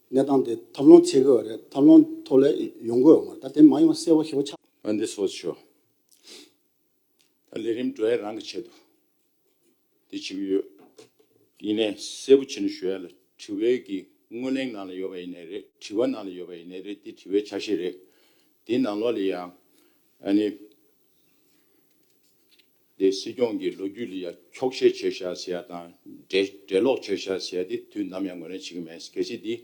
གནས་སྟངས་དེ་ཐབས་ལོང་ཚད་དགོས་བ་རེད་ཐབས་ལོང་ཐོག་ལས་ཡོང་དགོས་བ་མ་རེད་ད་དེ་མ་ཡོང་གསལ་བོ་ཤེས་བོ་ཆགས། ཨ་འདི་སོ་ཆོ། ད་ལས་རིམ་གྲོ་ཡས་རང་གི་ཆེད་དུ། དེ་བྱེད་གི་ཡོད། ཡིན་ནས་གསལ་བོ་བྱེད་ནས་ཞུ་ཡ་ལ་དྲི་བའི་གི་དངོས་གླེང་ནང་ལ་ཡོད་བ་ཡིན་ནས་རེད་དྲི་བ་ནང་ལ་ཡོད་བ་ཡིན་ནས་རེད་དེ་དྲི་བའི་ཆ་ཤས་རེད་དེ་ནང་ལོག་ལ་ཡང་ཨ་ནི། དེ་སྲིད་སྐྱོང་གི་ལོ་རྒྱུས་ལ་ཡང་འཁྱོག་བཤད་བྱས་ཤག་ཟེར་ཡག་དང། འགྲེལ་འགྲེལ་ལོག་བྱས་ཤག་ཟེར་ཡག་དེ་དུས་ནམ་ཡང་ངོས་ལེན་བྱེད་ཀྱི་མེད། གལ་སྲིད་དེ་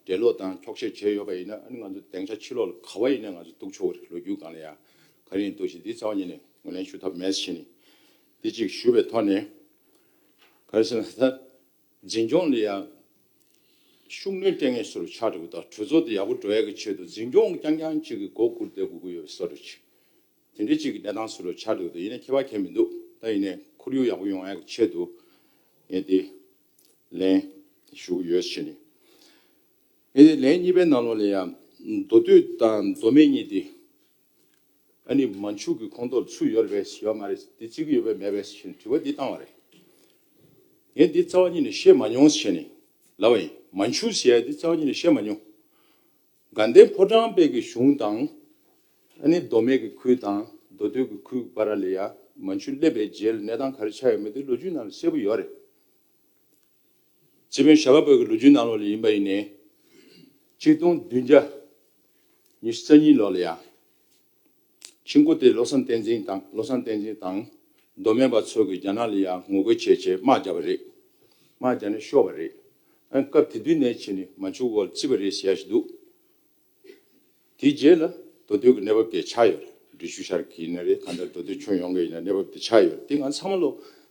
འགྲེལ་ལོག་དང་འཁྱོག་བཤད་བྱས་ཡོད་པ་ཡིན་ན་ཨ་ནི་ང་ཚོ་སྡེང་ཆ་ཕྱི་ལོག་ལ་ག་བ་ཡིན་ན་ང་ཚོ་གཏུགས་ཆོག་གི་རེད་ལོ་རྒྱུས་སྒང་ལ་ཡང་ག་རེ་ཡིན་གཏུགས་བཞིན་དེ་ཚང་བ་ཉིད་ནས་ངོས་ལེན་ཞུ་ཐབས་མེད་བཞིན་ནི་དེ་ཅིག་ཞུ་བའི་ཐོག་ནས་ག་རེ་ཟེར་ན་ད་འཛིན་སྐྱོང་ལ་ཡང་ཤུགས་སྣོན་སྤྲད་ངེས་སོ་རུ་ཆགས་འདུག་གྲོས་ཚོགས་དེ་ཡག་པོ་འགྲོ་ཡག་གི་ཆེད་དུ་འཛིན་སྐྱོང་རྐྱང་རྐྱང་གཅིག་གི་མགོ་བསྐུར་ཏེ་དགོས་ཀྱི་ཡོད་བསམ་རུ་ཆགས། དེ་འདྲའི་གཅིག་གི་གནས་སྟངས་སུ་རུ་འཆར་འདུག་དེ་ཡིན་ན་ཁྱད་པར་གྱེས་མི་འདུག་ད་ཡིན་ནས་ཁོར་ཡུག་ཡག་པོ་ཡོང་ཡག་གི་ཆེད་དུ་ངས་དེ་ལན་ཞུ་གི་ཡོད་ཕྱིན། ངས་དེ་ལན་གཉིས་པའི་ནང་ལོགས་ལས་ཡང་མདོ་སྟོད་དང་མདོ་སྨད་གཉིས་དེ་ཨ་ནི་མ་འཕྱུག་གི་ཁོངས་གཏོགས་སུ་ཡོད་རེད་པས་ཡོད་མ་རེད་དེ་བརྩི་གི་ཡོད་པས་མེད་པས་ཕྱིན་དྲི་བ་འདི་བཏང་བ་རེད། ངས་འདི་རྩ་བ་ཉིད་ནས་ཤེས་མ་མྱོང་ཕྱིན། ལབ་པ་ཡིན། མ་འཕྱུག་ཟེར་ཡ་འདི་རྩ་བ་ཉིད་ནས་ཤེས་མ་མྱོང། དགའ་ལྡན་ཕོ་བྲང་དཔལ་གྱི་གཞུང་དང། ཨ་ནི་མདོ་སྨད་ཀྱི་ཁུལ་དང་མདོ་སྟོད་ཀྱི་ཁུལ་བ་ར་ལི་ཡ་མན་ཆུ་སླེབས་པའི་རྗེས་ལ་གནས་སྟངས་ག་རེ་ཆགས་ཡོད་མེད་དེ་ལོ་རྒྱུས་ནང་ལ་གསལ་པོ་ཡོད་རེད། སྤྱི་དཔོན་ཞྭ་བ་བོད་ཀྱི་ལོ་རྒྱུས་ནང་ལོགས་ལས་ཡིན་པ་ཡིན་ནའི། གཅིག་སྟོང་བདུན་བརྒྱ་ཉི་ཤུ་རྩ་གཉིས་ལོགས་ལ་ཡང། ཆིང་ཀུ་ཏེ་བློ་བཟང་བསྟན་འཛིན་དང་བློ་བཟང་བསྟན་འཛིན་དང་མདོ་སྨད་པ་ཚོ་གིས་རྒྱ་ནག་ལ་ཡང་ངོ་རྒོལ་བྱེད་ཆེད་དམག་རྒྱག་པ་རེད། དམག་རྒྱག་ནས་ཤོར་བ་རེད། སྐབས་དེ་དུས་ནས་ཕྱི་ནས་མ་འཇུག་བར་བརྩི་བ་རེད་ཟེར་ཡ་ཞིག་འདུག་དེའི་རྗེས་ལ་མདོ་སྟོད་ཀྱི་གནས་བབ་དེ་ཆགས་ཡོད་རེད། འབྲི་ཆུ་ཤར་གྱི་ཡིན་ན་རེད་གང་ལྟར་མདོ་སྟོད་ཁྱོན་ཡོངས་ཀྱི་ཡིན་ན་གནས་བབ་དེ་ཆགས་ཡོད་རེད་དེ་ང་ཚང་མ་ལོ་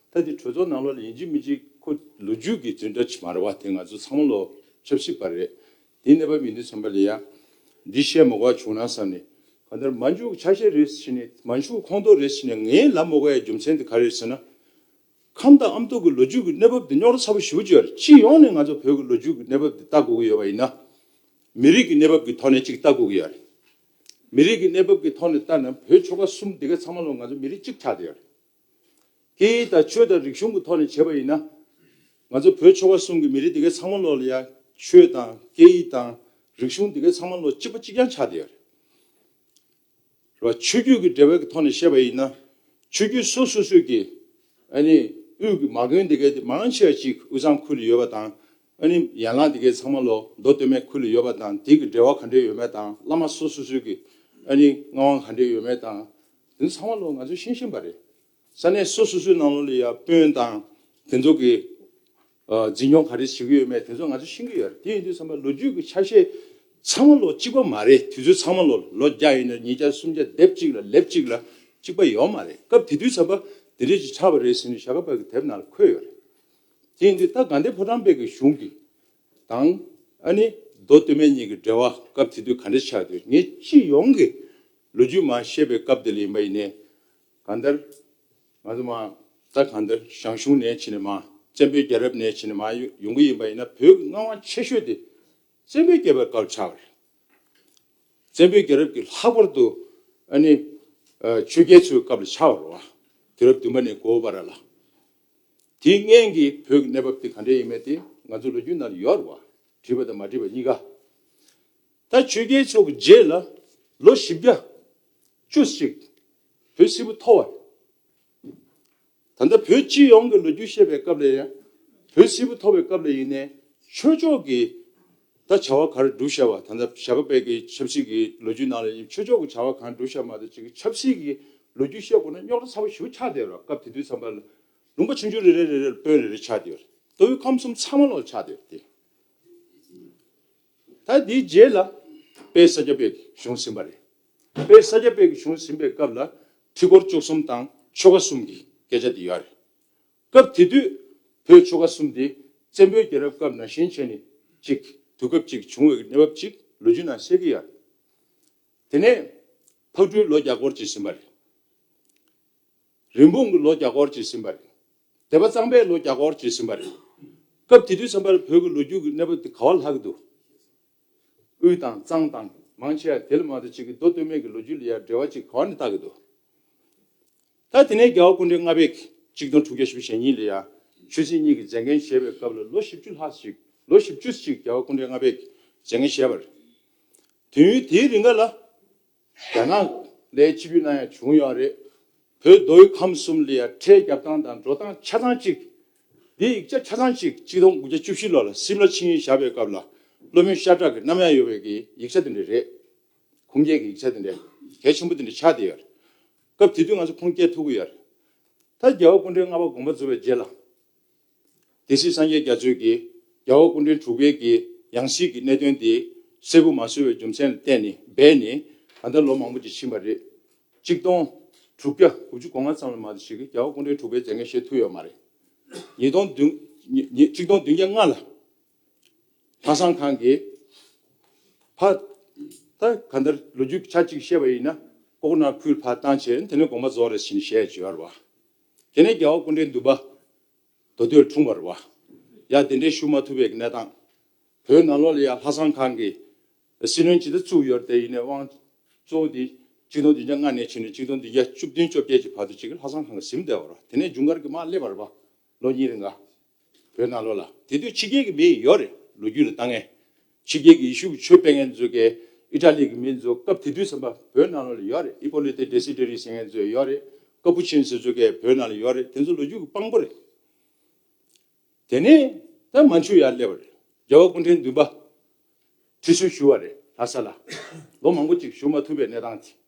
ད་དེ་གྲོས་ཚོགས་ནང་ལོགས་ལ་ཡིན་གཅིག་མིན་གཅིག་ཁོ་ལོ་རྒྱུས་ཀྱི་རྫུན་སྒྲ་མ་རེད་བ་དེ་ང་ཚོ་ཚང་མ་ལོ་ཆབ་སྲིད་པ་རེད་དེ་གནས་པ་མི་འདུག་བསམ་པ་ལས་ཡང་འདི་བཤད་མོ་ག་བྱུང་ན་བསམ་ནས་གང་ལྟར་མ་འཇུག་ཆ་ཤས་རེད་ཟེར་ནས་མ་འཇུག་ཁོང་ཏོག་རེད་ཟེར་ནས་ངའི་ལབ་མོ་ག་ཡའི་རྒྱུ་མཚན་དེ་ག་རེད་ཟེར་ན། ཁམས་དང་ཨམ་གཏུགས་ཀྱི་ལོ་རྒྱུས་ཀྱི་གནས་བབ་དེ་རྙོག་དྲ་ཚ་པོ་ཞི་བོ་བརྒྱུད་སྤྱི་ཡོངས་ནས་ང་ཚོ་བོད་ཀྱི་ལོ་རྒྱུས་ཀྱི་གནས་བབ་དེ་ལྟ་དགོས་ཀྱི་ཡོད་པ་ཡིན་ན། མི་རིགས་ཀྱི་གནས་བབ་ཀྱི་ཐོག་ནས་གཅིག་ལྟ་དགོས་ཀྱི་ཡོད་རེད། མི་རིགས་ཀྱི་གནས་བབ་ཀྱི་ཐོག་ནས་ལྟ་ན་བོད་ཆོལ་ཁ་གསུམ་འདི་ག་ཚང་མ་ལོ་ང་ཚོ་མི་རིགས་གཅིག་ཆགས་དེ་ཡོད་རེད། དེའི་ད་ཆོས་དང་རིག་གཞུང་གི་ཐོག་ནས་བྱས་པ་ཡིན་ན། ང་ཚོ་བོད་ཆོལ་ཁ་གསུམ་གྱི་མི་རིགས་འདི་གའི་ཚང་མ་ལོག་ལ་ཡང་ཆོས་དང་སྐད་ཡིག་དང་རིག་གཞུང་འདི་གའི་ཚང་མ་ལོག་གཅིག་པ་གཅིག་རྐྱང་ཆགས་བསྡད་ཡོད་རེད། རེད་བ། ཆོས་རྒྱུད་ཀྱི་འབྲེལ་བའི་ཀྱི་ཐོག་ནས་བཤད་པ་ཡིན་ན། ཆོས་རྒྱུད་སོ་སོ་སོས་ཀྱི་ཨ་ནི་དབུས་ཀྱི་མ་དགོན་འདི་གའི་དེ་མང་ཆེ་བ་གཅིག་དབུས་གཙང་ཁུལ་ལ་ཡོད་པ་དང་ཨ་ནི་ཡན་ལག་དེ་གའི་ཚང་མ་ལོ་མདོ་སྟོད་སྨད་ཁུལ་ལ་ཡོད་པ་དང་དེ་གི་འབྲེལ་བ་ག་འདྲས་ཡོད་མེད་དང་བླ་མ་སོ་སོ་སོས་ཀྱི་ཨ་ནི་མངའ་དབང་ག་འདྲས་ཡོད་མེད་དང་དེ་ཚོ་ཚང་མ་ལོ་ང་ཚོས་ཤེས་བཞིན་པ་རེད། ས་གནས་སོ་སོ་སོའི་ནང་ལོ་ལ་ཡང་དཔོན་དང་དེ་ཚོ་གི་འཛིན་སྐྱོང་ག་རེ་བྱེད་ཀྱི་ཡོད་མེད་དེ་ཚོ་ང་ཚོས་ཤེས་ཀྱི་ཡོད་རེད་དེ་ཡིན་དུས་བསམ་པ་ལོ་རྒྱུས་ཀྱི་ཆ་ཤས་ཚང་མ་ལོ་གཅིག་པ་མ་རེད་དུས་ཚོད་ཚང་མ་ལོ་ལོ་བརྒྱ་ཡིན་ན་ཉིས་བརྒྱ་སུམ་བརྒྱ་སྡེབ་གཅིག་ལ་ལེབ་གཅིག་ལ་གཅིག་པ་ཡོད་མ་རེད་སྐབས་དེ་དུས་བསམ་པ་དེ་འདྲས་ཅིག་ཆགས་པ་རེད་ཟེར་ནས་བྱ་དགའ་བར་གྱི་དེབ་ནང་ལ་འཁོད་ཡོད་རེད། རྐྱེན་འདི་ལྟར་དགའ་ལྡན་ཕོ་བྲང་དཔལ་གྱི་གཞུང་གི་དང། ཨ་ནི། མདོ་སྟོད་སྨད་གཉིས་ཀྱི་འབྲེལ་བ་སྐབས་དེ་དུས་ག་འདྲ་ཆགས་དུས་ངས་སྤྱི་ཡོངས་ཀྱི་ལོ་རྒྱུས་མ་ཤེས་པའི་སྐབས་དེ་ལ་ཡིན་པ་ཡིན་ནས། གང་ལྟར། ང་ཚོ་མ་རྩ་གང་ལྟར་ཞང་ཞུང་ནས་ཕྱིན་ནས་མ། བཙན་པོའི་རྒྱལ་རབས་ནས་ཕྱིན་ནས་མ་ཡོང་གི་ཡིན་པ་ཡིན་ན་བོད་ཀྱི་མངའ་དབང་ཆེ་ཤོས་དེ་བཙན་པོའི་རྒྱལ་པོའི་སྐབས་ཆགས་པ་རེད། བཙན་པོའི་རྒྱལ་རབས་ཀྱི་ལྷག་པར་དུ་ཨ་ནི། ཆོས་རྒྱལ་ཚོའི་སྐབས་ལ་ཆགས་པར་རོ། དུས་རབས་བདུན་པ་ནས་གོ་བར་ལ། དེའི་མངན་གྱི་བོད་ཀྱི་གནས་བབ་དེ་ག་འདྲས་ཡིན་མེད་དེ་ང་ཚོ་ལོ་རྒྱུས་ནང་དུ་ཡོད་རེད་བ། བྲིས་པ་དང་མ་བྲིས་པ་གཉིས་ཀ། ད་ཆོས་རྒྱལ་མཆོག་གི་རྗེས་ལ་ལོ་བཞི་བརྒྱ། བཅུ་གཅིག། བོད་སིལ་བུ་འཐོར་བ་རེད། ད་ལྟ་བོད་སྤྱི་ཡོངས་ཀྱི་ལོ་རྒྱུས་བཤད་པའི་སྐབས་ལས་ཡང་བོད་སིལ་བུ་འཐོར་བའི་སྐབས་ལས་ཡིན་ནའི་ཆོས་ཕྱོགས་ཀྱི་ད་བྱ་བ་གར་བསྒྲུབ་བྱ་བ་ད་ལྟ་བྱ་དགའ་བད་ཀྱི་ཆབ་སྲིད་ཀྱི་ལོ་རྒྱུས་ནང་ལ་ཡིན་ཆོས་ཕྱོགས་ཀྱི་བྱ་བ་གང་བསྒྲུབ་བྱ་མ་ད་ཅིག་ཆབ་སྲིད་ཀྱི་ལོ་རྒྱུས་བཤད་དགོས་ན་རྙོག་དྲ་ཚ་བོ་ཞུ་ཆགས་བསྡད་རོགས་སྐབས་དེ་དུས་ཚང་པ་ལ་ལུང་པ་ཆུང་ཆུང་རེ་རེ་རེ་རེ་ལ་དཔོན་རེ་རེ་ཆགས་བསྡད་རེད་ལྟོས་ཁམས་གསུམ་ཚང་མ་ལ་ཆགས་བསྡད་རེད་དེ་ད་དེའི་རྗེས་ལ་དཔལ་ས་སྐྱ་པད་ཀྱི་གཞུང་ཟིན་པ་རེད་དཔལ་ས་སྐྱ་པད་ཀྱི་གཞུང་ཟིན་པའི་སྐབས་ལ་ཁྲི་སྐོར་བཅུ་གསུམ་དང་ཆོལ་ཁ་གསུམ་གྱི་སྐད་ཆ་དེ་ཡོད་རེད། སྐབས་དེ་དུས་བོད་ཆོལ་ཁ་གསུམ་དེ་བཙན་པོའི་རྒྱལ་རབས་སྐབས་ནང་ཞེན་ཆེ་ནི་གཅིག་དུས་སྐབས་གཅིག་བྱུང་བའི་གནས་བབ་ཅིག་ལོ་རྒྱུས་ནང་གསལ་གི་ཡོད། དེ་ནས་ཕག་གྲུའི་ལོ་བརྒྱ་སྐོར་གྱིས་ཟིན་པ་རེད། རིན་སྤུངས་ཀྱི་ལོ་བརྒྱ་སྐོར་གྱིས་ཟིན་པ་རེད། དད་པ་གཙང་པའི་ལོ་བརྒྱ་སྐོར་གྱིས་ཟིན་པ་རེད། སྐབས་དེ་དུས་བསམ་པར་བོད་ཀྱི་ལོ་རྒྱུས་ཀྱི་གནས་བབ་དེ་ག་བ་ལྷག་གི་འདུག། དབུས་དང་གཙང་དང། མང་ཆེ་བ་དེ་ལ་མ་ཏོ་གཅིག་གི་མདོ་སྟོད་སྨད་ཀྱི་ལོ་རྒྱུས་ལ་ཡར་འགྲེལ་བ་གཅིག་ག་བ་ནས་བཏགས་ཀྱི་འདུག་ད། དེ་ནས་རྒྱལ་བ་ཀུནྡའི་ལྔ་པའི་གཅིག་སྟོང་དྲུག་བརྒྱ་ཞེ་བཞི་ཞེ་གཉིས་ལ་ཡང་ཆོས་སྲིད་གཉིས་ཀྱི་མཛད་འགན་བཞེས་པའི་སྐབས་ལ་ལོ་བཞི་བཅུ་ལྷག་ཞིག་ལོ་བཞི་བཅུ་ཅིག་རྒྱལ་བ་ཀུནྡའི་ལྔ་པས་མཛད་འགན་བཞེས་པར། དུས་ཡུན་དེའི་རིང་ག་ལ། རྒྱ་ནག་ལས་སྤྱི་བུའི་ནང་ཡང་བྱུང་ཡོད་རེད། བོད་མདོ་དབུས་ཁམས་གསུམ་ལ་ཡང་ཁྲལ་རྒྱབ་སྟངས་དང་འགྲོ་སྟངས་ཆ་ཚང་གཅིག། འདིའི་ཡིག་ཆ་ཆ་ཚང་གཅིག་གཅིག་སྟོང་དགུ་བརྒྱ་བཅུ་བཞི་ལོ་ལ་སིམ་ལ་ཆིངས་ཡིག་བཞག་པའི་སྐབས་ལ་བློ་མོས་ཤ་ཁྲག་གི་རྣམ་གཡང་ཡོད་པའི་གི་ཡིག་ཆ་དེ་འདྲ་རེད། ཁུངས་སྐྱེལ་གི་ཡིག་ཆ་དེ་འདྲ་གལ་ཆེན་པོ་དེ་འདྲ་ཆགས་བསྡད་ཡོད། སྐབས་དེ་དུས་ང་ཚོ་ཁུངས་སྐྱེལ་ཐུབ་ཀྱི་ཡོད་རེད། ད་རྒྱལ་བ་སྐུ་འཕྲེང་ལྔ་པ་དགོངས་པ་རྫོགས་པའི་རྗེས་ལ། དེ་སྲིད་སངས་རྒྱས་རྒྱ་མཚོས་ཀྱི། རྒྱལ་བ་སྐུ་མགྲོན་དྲུག་སྤེལ་གྱི། ཡང་གཞིས་ཀྱི་གནད་དོན་དེ། གསལ་པོ་མ་བཟོས་བའི་རྒྱུ་མཚན་ལ་བལྟས་ནས་སྦས་ནས། ད་ལྟ་ལོ་མང་པོ་ཅིག་ཕྱིན་པ་རེད། གཅིག་སྟོང། དྲུག་བརྒྱ། དགུ་བཅུ་གོ་ལྔ་ཙམ་ལ་མ་གཏོགས་ཞིག་གིས་རྒྱལ་བ་སྐུ་མགྲོན་དྲུག་སྤེལ་མཛད་མཁན་ཞེས་ཐུག་ཡོད་མ་རེད། ཉིས་སྟོང་བདུན། གཅིག་སྟོང་བདུན་བརྒྱ་ལྔ་ལ། ལྷ་བཟང་ཁང་གིས། ཕ། ད་ག་ལྟར་ལོ་རྒྱུས་ཀྱི་ཆ་གཅིག་བཤད་པ་ཡིན་ན། ལྐོག་ན་ཁུལ་ཕ་བཏང་བྱས། དེ་ནས་དགོངས་པ་རྫོགས་རེ་ཞིང་ཞེས་བརྗོད་ཡར་བ། དེ་ནས་རྒྱལ་བ་ཀུན་འདྲའི་འདུན་པ། མདོ་སྟོད་འཁྲུངས་བར་བ། ཡང་དེ་འདྲའི་ཞུ་མ་ཐུབ་པའི་གནས་སྟངས། བོད་ནང་ལོ་ལ་ཡང་ལྷ་བསང་ཁང་གི། སྲིད་བློན་ཇི་ལྟར་བཙུགས་ཡོད་དེ་ཡིན་ནའི་དབང། གཙོ་བོ་འདི། གཅིག་སྟོང་བདུན་བརྒྱ་སྔ་ནས་ཕྱིན་ནས་གཅིག་སྟོང་བདུན་བརྒྱ་བཅུ་བདུན་བཅོ་བརྒྱད་ཀྱི་བར་དུ་གཅིག་ལྷ་བསང་ཁང་གི་གཟིམས་བརྡལ་བར་བ་དེ་ནས་ཇུན་གར་གྱི་དམག་སླེབས་བར་བ། ལོ་གཉིས་རེ་འགའ། བོད་ནང་ལོག་ལ་དེ་དུས་ཕྱི་རྒྱལ་གྱི་མི་ཡོད་རེད་ལོ་རྒྱུས་ལ་ལྟ་ངན། ཕྱི་རྒྱལ་གྱི་ཡེ་ཤུ་བུ་ཆོས་སྤེལ་མཁན་གཙོས་ཀའི་ཨི་ཏྲ་ལི་གྱི་མི་ཚོ་སྐབས་དེ་དུས་ཚན་པ་བོད་ནང་ལོག་ལ་ཡོད་རེད་ཨི་པོ་ལི་ཏེ་ཏེ་སི་ཏྲེ་རི་ཟེར་མཁན་ཚོས་ཡོད་རེད་ཀ་པུ་ཆིན་ཟེར་ཚོས་ཀའི་བོད་ནང་ལ་ཡོད་རེད་དེ་ཚོ་ལོ་རྒྱུས་ཀྱི་དཔང་པོ་རེད། དེ་ནས་ད་མན་ཆུ་ཡར་སླེབས་པ་རེད་རྒྱལ་བ་སྐུ་འཕྲེང་བདུན་པ་ཁྲི་སྲོལ་ཞུ་བ་རེད་ལྷ་ས་ལ་ལོ་མང་པོ་གཅིག་བཞུགས་མ་ཐུབ་པའི་གནས་སྟངས་དེ།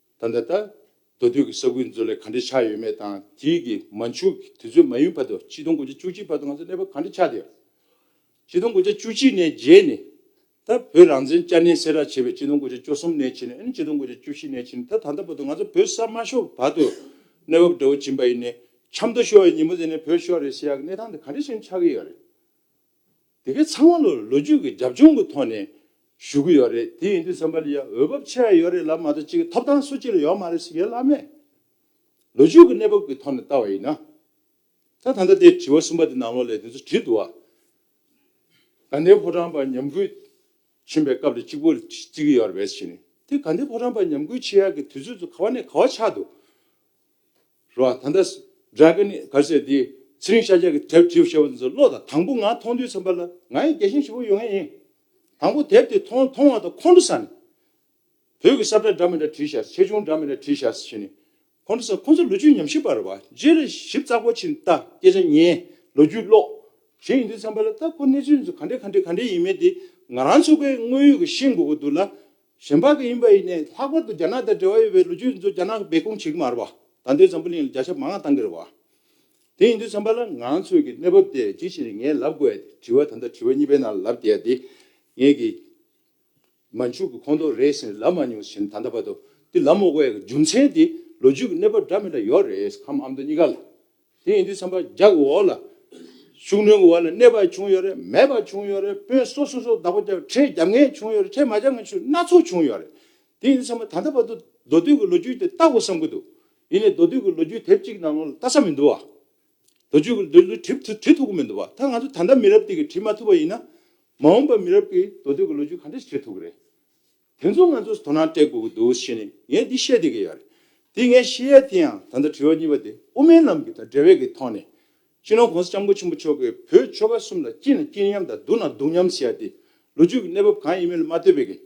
ད་ལྟ། མདོ་སྟོད་ཀྱི་ས་ཁུལ་མཛོད་ལས་ག་འདྲས་ཆགས་ཡོད་མེད་དང་དེའི་གི་མ་མཆུ་གི་དུས་ཚོད་མ་ཡུན་བར་དུ་ཆིག་སྟོང་དགུ་བརྒྱ་བཅུ་གཅིག་བར་དུ་ང་ཚོ་གནས་བབ་ག་འདྲས་ཆགས་བསྡད་ཡོད། ཆིག་སྟོང་དགུ་བརྒྱ་བཅུ་གཅིག་ནས་རྗེས་ནས། ད་བོད་རང་བཙན་བསྐྱར་ནན་སེལ་ར་བྱས་པའི་ཆིག་སྟོང་དགུ་བརྒྱ་བཅུ་གསུམ་ནས་ཕྱིན་ནས་ཨིན་ཆིག་སྟོང་དགུ་བརྒྱ་བཅུ་བཞི་ནས་ཕྱིན་ད་ད་ལྟ་བར་དུ་ང་ཚོ་བོད་གསར་མ་ཤོར་བར་དུ་གནས་བབ་འདྲ་བོ་སྦྱིན་པ་ཡིན་ནས་ཆབ་མདོ་ཤོར་བའི་ཉིན་མོ་ཟེར་ནས་བོད་ཤོར་རེད་ཟེར་ཡག་གི་གནས་སྟངས་འདི་ག་འདྲས་ཕྱིན་ཆགས་ཀྱི་ཡོད་རེད། དེ་གའི་ཚང་མ་ལོ་ལོ་རྒྱུས་ཀྱི་རྒྱབ་ལྗོངས་ཀྱི་ཐོག་ནས་ཞུ་གི་ཡོད་རེད་དེ་ཡིན་དུས་སེམས་པ་ལ་ཡང་འོས་བབ་ཆེ་བ་ཡོད་རེད་ལབ་མ་གཏོགས་ཅི་གི་ཐོབ་ཐང་སུ་གཅིག་ལ་ཡོད་མ་རེད་ཟེར་གི་ལབ་མེད། ལོ་རྒྱུས་ཀྱི་གནས་བབ་ཀྱི་ཐོག་ནས་བལྟ་བ་ཡིན་ན། ད་ད་ལྟ་དེ་དྲི་བ་གསུམ་པ་དེ་ནང་ལོགས་ལས་དེ་ཚོ་བྲིས་འདུག་ཨ། དགའ་ལྡན་ཕོ་བྲང་པ་ཉམས་རྒུད་ཕྱིན་པའི་སྐབས་ལ་གཅིག་པུར་བརྩི་གི་ཡོད་རེད་བས་ཟེར་ནས་དེ་དགའ་ལྡན་ཕོ་བྲང་པ་ཉམས་རྒུད་ཆེ་ཡག་གི་དུས་ཚོད་ཚོ་ག་བ་ནས་ག་བ་ཆགས་འདུག་རོ། ད་ལྟ། Dragon། གར་སའི་དེའི། ཚེ་རིང་ཤཱཀྱ་ཀྱི་དེབ་བྲིས་བཞེས་པ་འདི་ཚོ་བློ་དང་དང་པོ་ང་མཐོང་དུས་ཚེམས་པ་ལ་ང་ཡི་རྒྱལ་ཞེན་བཞི་བོ་ཡོང་ཡས་ཡིན། དང་པོ་དེབ་དེ་མཐོང་མཐོང་བ་དང་ཁོང་ཁྲོ་ས་ནས། བོད་ཀྱི་སྲབ་འདྲ་འདྲ་མི་འདྲ་བྲིས་བཞག་ཆེ་ཆུང་འདྲ་མི་འདྲ་བྲིས་བཞག་ཞེས་ནས། ཁོང་ཁྲོ་ས་ཁོང་ཚོ་ལོ་རྒྱུས་ཉམས་ཞིབ་པར་བ་རྗེ་རེ་ཞིབ་རྩ་གོ་ཕྱིན་ལྟ་སྐད་ཆ་ཉན་ལོ་རྒྱུས་ཀློག། ཞེས་ཡིན་དུས་ཚེམས་པ་ལ་ད་ཁོ་གནས་ཚུལ་འདི་ཚོ་ག་འདྲས་ག་འདྲས་ག་འདྲས་ཡིན་མིན་དེ་ང་རང་ཚོ་ཀའི་དངོས་ཡོད་ཀྱི་ཤེས་དགོས་ཀྱི་འདུག་ལ། གཞན་ཕག་གི་ཡིན་པ་ཡིན་ནས་ལྷག་པར་དུ་རྒྱ་ནག་དང་འབྲེལ་བ་ཡོད་པའི་ལོ་རྒྱུས་ཡིན་ཚུལ་རྒྱ་ནག་གི་སྦས་སྐུང་བྱེད་ཀྱི་མ་རེད་པ་ད་འདོད་འཛམ་བུ་གླིང་ལ་རྒྱ་ཞབས་མང་ང་བཏང་གི་རེད་བ། དེ་ཡིན་དུས་བསམ་པ་ལ་ང་ཚོས་ཀྱི་གནས་བབ་དེ་ཇི་ཞིག་རེད་ངས་ལབ་དགོས་ཡ་དེ་དྲི་བ་ད་ལྟ་དྲི་བ་གཉིས་པའི་ནང་ལ་ལབ་དགོས་ཡ་དེ་ངས་ཀྱི་མ་མཇུག་གི་ཁོང་ཏོག་རེད་ཟེར་ནས་ལབ་མ་མྱོང་ཟེར་ནས་ད་ལྟ་བར་དུ་དེ་ལབ་མ་དགོས་ཡ་གི་རྒྱུ་མཚན་དེ་ལོ་རྒྱུས་ཀྱི་གནས་བབ་འདྲ་མིན་ལ་ཡོད་རེད་ཨམ་མདོ་གཉིས་ཀ་ལ་དེ་ཡིན་དུས་བསམ་པ་རྒྱག་གི་འོག་ལ། ཤུགས་སྣོན་གི་འོག་ལ་གནས་པར་བྱུང་ཡོད་རེད་མེད་པར་བྱུང་ཡོད་རེད་དཔོན་སོ་སོ་སོ་བདག་པོ་བརྒྱབ་ཁྲལ་བརྒྱབ་ངེས་བྱུང་ཡོད་རེད་ཁྲལ་མ་བརྒྱབ་ངེས་ཆུ་སྣ་ཚོགས་བྱུང་ཡོད་རེད། དེ་ཡིན་དུས་བསམ་པ་ད་ལྟ་བར་དུ་མདོ་སྟོད་ཀྱི་ལོ་རྒྱུས་དེ་ལྟ་དགོས་བསམ་གྱི་འདུག་ཡིན་ནའི་མདོ་སྟོད་ཀྱི་ལོ་རྒྱུས་དེབ་གཅིག་ནང་ལོང་ལ་ལྟ་ས་མི་འདུག་བ། མདོ་སྤྱོད་ཀྱི་ལོ་རྒྱུས་བྲིས་ཐུབ་བྲིས་ཐུབ་ཀྱི་མི་འདུག་བ། ད་ང་ཚོ་ད་ལྟ་མི་རབས་འདི་གིས་བྲིས་མ་ཐུབ་པ་ཡིན་ན། མ་འོངས་པའི་མི་རབས་ཀྱིས་མདོ་སྟོད་ཀྱི་ལོ་རྒྱུས་ག་འདྲ་ཞིག་བྲིས་ཐུབ་ཀྱི་རེད། དེ་ཚོ་ང་ཚོས་དོ་སྣང་སྤྲད་དགོས་ཀྱི་འདུག་བཤད་ནས་ངས་འདི་བཤད་དེ་གི་ཡོད་རེད། དེ་ངས་བཤད་ཡས་དེ་ཡང་ད་ལྟ་དྲི་བ་གཉིས་པ་དེ་དབུ་མའི་ལམ་གྱི་དང་འབྲེལ་བའི་གི་ཐོག་ནས། སྤྱི་ནོར་གོང་ས ྋསྐྱབས་མགོན་ཆེན་པོ་མཆོག་གིས་བོད་ཆོལ་ཁ་གསུམ་ལ་སྐྱིད་ན་སྐྱིད་མཉམ་དང་སྡུག་ན་སྡུག་མཉམ་ཟེར་ཡ་དེ་ལོ་རྒྱུས་ཀྱི་གནས་བབ་གང་ཡིན་མིན་ལ་མ་ལྟོས་པའི་གི།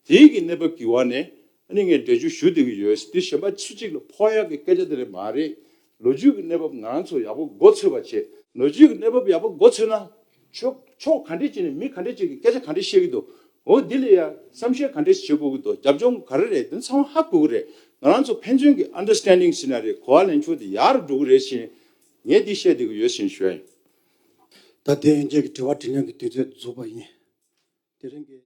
དེའི་གི་གནས་བབ་ཀྱི་བར་ནས་ཨ་ནི་ངས་འགྲེལ་བརྗོད་ཞུ་དེ་གི་ཡོད། དེ་གཞན་པ་སུ་གཅིག་ལ་ཕོག་ཡག་གི་སྐད་ཆ་དེ་རེད་མ་རེད། ལོ་རྒྱུས་ཀྱི་གནས་བབ་ང་རང་ཚོ་ཡག་པོ་མགོ་འཚོས་པ་བྱེད། ལོ་རྒྱུས་ཀྱི་གནས་བབ་ཡག་པོ་མགོ་འཚོས་ན། ཆོས་ཕྱོགས་ག་འདྲས་ཀྱི་ནས་མི་ག་འདྲས་ཀྱི་གི་སྐད་ཆ་ག་འདྲས་བཤད་ཀྱི་འདུག་འོ་དེ་ལས་ཡ་བསམ་ཤེས་ག་འདྲས་བྱེད་དགོས་ཀྱི་འདུག་རྒྱབ་ལྗོངས་ག་རེ་རེད་དེ་ཚང་མ་ཧ་གོ་གི་རེད་ང་རང་ཚོ་ཕན་ཚུན་གྱི understanding བྱེད་ན་རེད་གོ་བ་ལེན་ཕྱོགས་དེ་ཡག་རུ་འགྲོ་གི་རེད་བཞིན་ངས་འདི་བཤད་བསྡད་ཀྱི་ཡོད་བཞིན་ཞུ་ཡ་ཡིན། ད་དེ་ཡན་ཆད་ཀྱི་དྲི་བ་དྲིས་ལན་གྱི་དུས་ཚོད་རྫོགས་པ་ཡིན། དེ་རིང་གི།